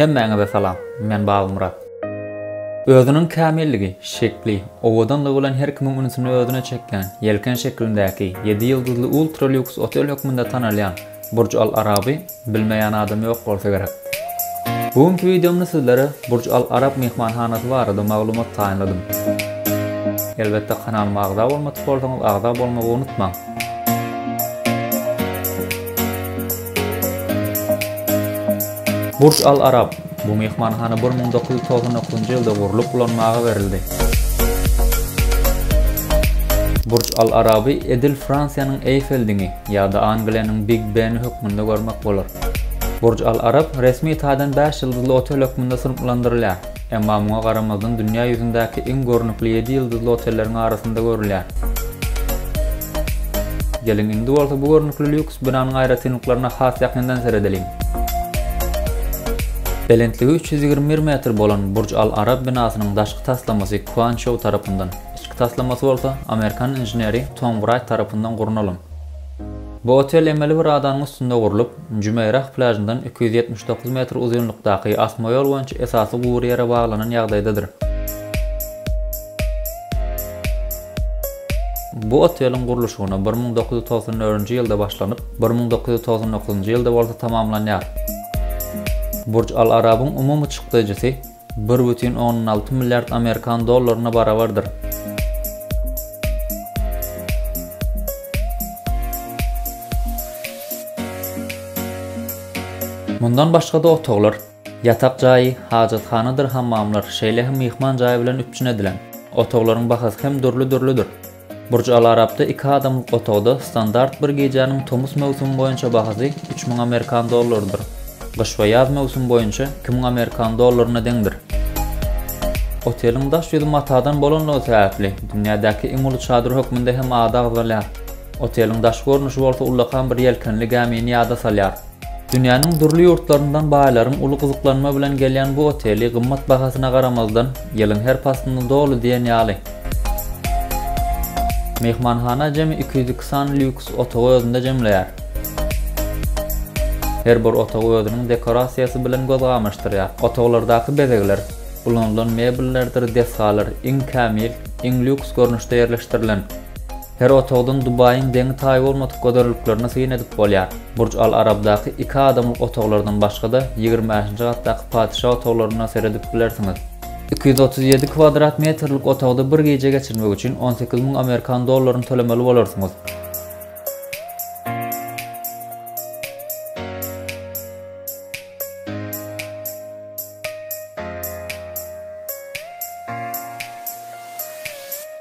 Hemmäňize salam, men Babamyrat. Özüniň kämilligi, şekli, owadanlygy bilen her kimiň ünsüni özüne çekýän, ýelken şekilindäki, ýedi ýyldyzly ultra-lýuks otel hökmünde tanalýan Burj Al Araby, Bilmeýän adam ýok bolsa gerek. Bu günki wideomda sizlere Burj Al Arab myhmanhanasy barada maglumat taýynladym. Elbetde kanalyma agza bolmadyk bolsaňyz agza bolmagy unutmaň. Burj Al Arab, bu myhmanhana bir müň dokuz ýüz togsan dokuzynjy ýylda gurlup ulanmaga berildi. Burj Al Araby edil Fransiýanyň Eýfel diňi, Ýa-da Angliýanyň Big Beni hökmünde görmek bolar. Burj Al Arab resmi taýdan bäş ýyldyzly otel hökmünde synplandyrylýar, emma muňa garamazdan dünýä ýüzündäki iň görnükli ýedi ýyldyzly otelleriň arasynda görülýär. Geliň indi bolsa bu görnükli lýuks binanyň aýratynlyklaryna has ýakyndan seredeliň. Belentligi üç ýüz ýigrimi bir metr bolan Burj Al Arab binasynyň daşky taslamasy Kuan Çou tarapyndan, Içki taslamasy bolsa amerikan inženeri Tom Wright tarapyndan gurnalan. Bu otel emeli bir adanyň üstünde gurlup, Jümeýrah plýažyndan iki ýüz ýetmiş dokuz metr uzynlykdaky asma ýol boýunça esasy gury ýere baglanan ýagdaýdadyr. Bu oteliň gurluşygyna bir müň dokuz ýüz togsan dördünji ýylda başlanyp, bir müň dokuz ýüz togsan dokuzynjy ýylda bolsa tamamlanýar. Burj Al Arabyň umumy çykdaýjysy Bir bütin ondan alty milliard amerikan dollaryna barabardyr. Mundan başga-da otaglar, ýatak jaýy, hajathanadyr hammamlar, şeýle hem myhman jaýy bilen üpjün edilen. Otaglaryň bahasy hem dürli-dürlüdir. Burj Al Arabda iki adamlyk otagda standart bir gijäniň tomus möwsümi boýunça bahasy üç müň amerikan dollarydyr. Gyş we ýaz möwsümi boýunça iki müň amerikan dollaryna deňdir. Oteliň daş ýüzi matadan bolanlygy sebäpli, dünýädäki iň uly çadyr hökmünde hem ady agzalýar. Oteliň daşky görnüşi bolsa ullakan bir ýelkenli gämini ýada salýar. Dünýäniň dürli ýurtlaryndan baýlaryň uly gyzyklanma bilen gelýän bu oteli gymmat bahasyna garamazdan, ýylyň her paslynda doly diýen ýaly. Myhmanhana jemi iki ýüz iki sany lýuks otagy özünde jemleýär. Her bir otagy özüniň dekorasiýasy bilen göz gamaşdyrýar. Otaglardaky bezegler, ulanylan mebellerdir desgalar iň kämil, iň lýuks görnüşde ýerleşdirilen. Her otagdan Dubaýyň deňi-taýy bolmadyk gözelliklerini syn edip bolýar. Burj Al Arabdaky iki adamlyk otaglardan başga-da, ýigrimi bäşinji gatdaky patyşa otaglaryna seredip bilersiňiz. Iki ýüz otuz ýedi kwadrat metrlik otagda bir gije geçirmek üçin on sekiz müň amerikan dollaryny tölemeli bolarsyňyz.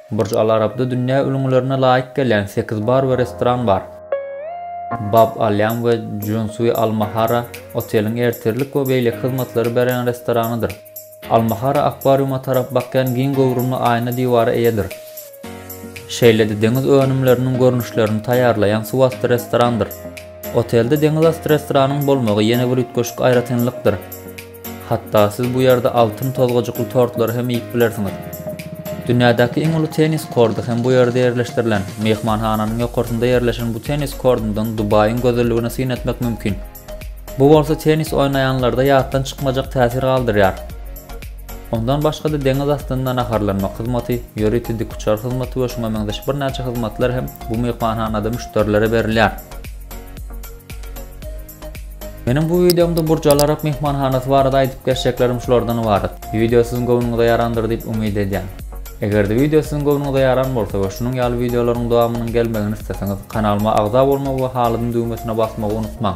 Burj Al Arabda dünýä ülňülerine laýyk gelýän sekiz bar we restoran bar. Bab Al Ýam we Junsui Al Mahara oteliň ertirlik we beýleki hyzmatlary berýän restoranydyr. Al Mahara akwariuma tarap bakýan giň göwrümli aýna diwara eýedir. Şeýle-de deňiz önümleriniň görnüşlerini taýýarlaýan suwasty restorandyr. Otelde deňizasty restoranyň bolmagy ýene bir üýtgeşik aýratynlykdyr. Hatda siz bu ýerde altyn tozgajykly tortlary hem iýip bilersiňiz. Dünýädäki iň uly tennis korty hem bu ýerde ýerleşdirilen. Myhmanhananyň ýokarsynda ýerleşen bu tennis kortundan Dubaýyň gözelligine syn etmek mümkin. Bu bolsa tennis oýnaýanlarda ýatdan çykmajak täsir galdyrýar. Ondan başga-da deňiz astynda naharlanmak hyzmaty, ýörite dikuçar hyzmaty we şuňa meňzeş birnäçe hyzmatlar hem bu myhmanhanada müşderilere berilýär. Meniň bu wideomda Burj Al Arab myhmanhanasy barada aýdyp geçjeklerim şulardan ybarat. Wideo siziň göwnüňize ýarandyr diýip umyt edýän. Eger-de wideo siziň göwnüňize ýaran bolsa we şunuň ýaly wideolaryň dowamynyň gelmegini isleseňiz, kanalyma agza bolmagy we halyzyň düwmesine basmagy unutmaň!